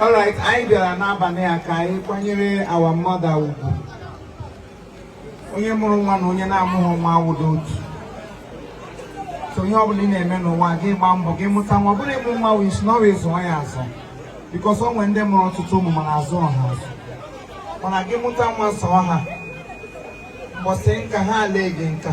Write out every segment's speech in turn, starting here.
All right, anyị bịara n'abalị a ka anyị kwanyere our mother ugwu onye mụrụ nwa na onye na-amụghị nwa awụrọ otu so ihe ọbụla ị na-eme n'ụwa gị gbaa mbọ gị mụta nwa ọ bụrọ ịmụ nwa wụ isi n'ọrụ ịzụ ya azụ because o nwere ndị mụrụ ọtụtụ ụmụ mana azụrọ ha azụ mana gị mụta nwa zụọ ha mbọsị nka ha elee gị nka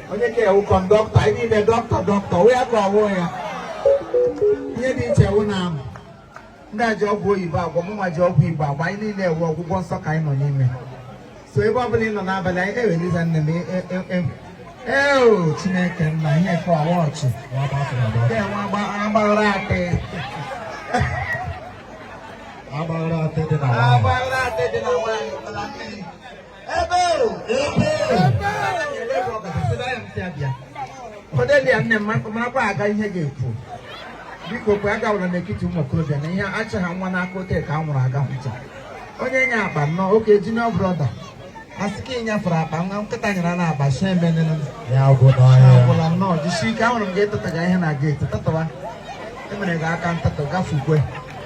onye ka ị wụ conductor anyị niile dọkịta dọkịta onwe ya ka ọ wụ ya ihe dị iche wụ na amụ ndị a ji ọgwụ oyibo agwọ mụnwa ji ọgwụ igbo agwọ anyị niile wụ ọgwụgwọ nsọ ka anyị nọ n'ime so ebe ọ bụla ị nọ n'abalị anyị eweliza nne m e, e, e, eo chineke nna ihe ka ọwa ọchị agbaghara atị agbaghara atị dị na nwaanyị Cordelia nne m makwa aga ihe ga-ekwu biko kwe agawala n'etiti ụmụ okorobịa na ihe achị ha nwa n'aka ote ka a nwụrụ aga hụcha onye nye akpa nnọọ oke junior brother sị ka ị nyefere akpa nwa nkịta nyere na akpa so emenene agwụla nnọọ jisi ike ahụrụ m gị etetaga ihe na geeti tatawa emere gị aka ntatọ gafukwe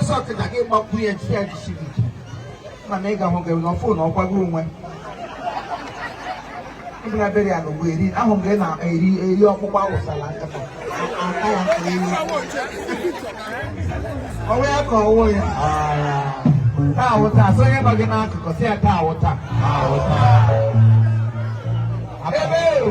ọsọ kịta gị gbapụ ya chi ya jisiri ike ma na ị ga-ahụ gị na phone ọkwago onwe ịbụla bere ya n'ugbo eri ahụ m gị na-eri eri ọkpụkpọ awụsala nkata aka ya nke elu onwe ya ka ọ wụ ya taa wụ taa so onye nọ gị n'akụkụ sị ya taa wụ taa ebe o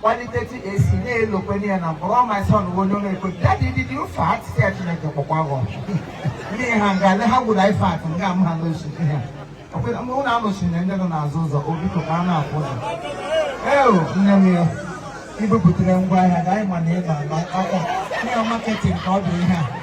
kpalite AC na-elekwa anya na m kpọrọ my son bụ onye na-ekwe daddy did you fart sị ya Chineke kpọkwa gị ọkụ ndị ha nga le ha gwụrụ anyị fart nga m ha n'osu ha ọkwụna mgbe ụlọ anọchiri na ndị nọ n'azụ ụzọ o biko ka a na-afụ ụzọ eo nne m ya ibupụtara ngwa ahịa ga anyị ma na ị na-agba akọ ihe marketing ka ọ bụ ihe a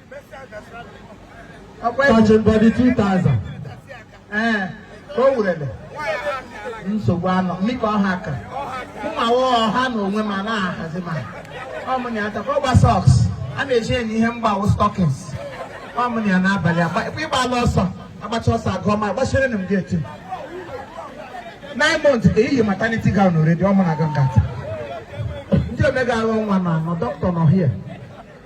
touching body 2000 ee ọ wụrụla nsogbu anọ mika ọha ka mmawa ọha na onwe ma na-ahazi ma ọmụnya atakwa ọgba socks a na-eji enye ihe mgbawo stockings ọmụnya n'abalị ị gbala ọsọ agbachaa ọsọ agụọ mile agbachiri na m gị eti nine months ka i yi maternity gown already ọmụ na gangata ndị omega arụ nwa na anọ dọkịta nọ hie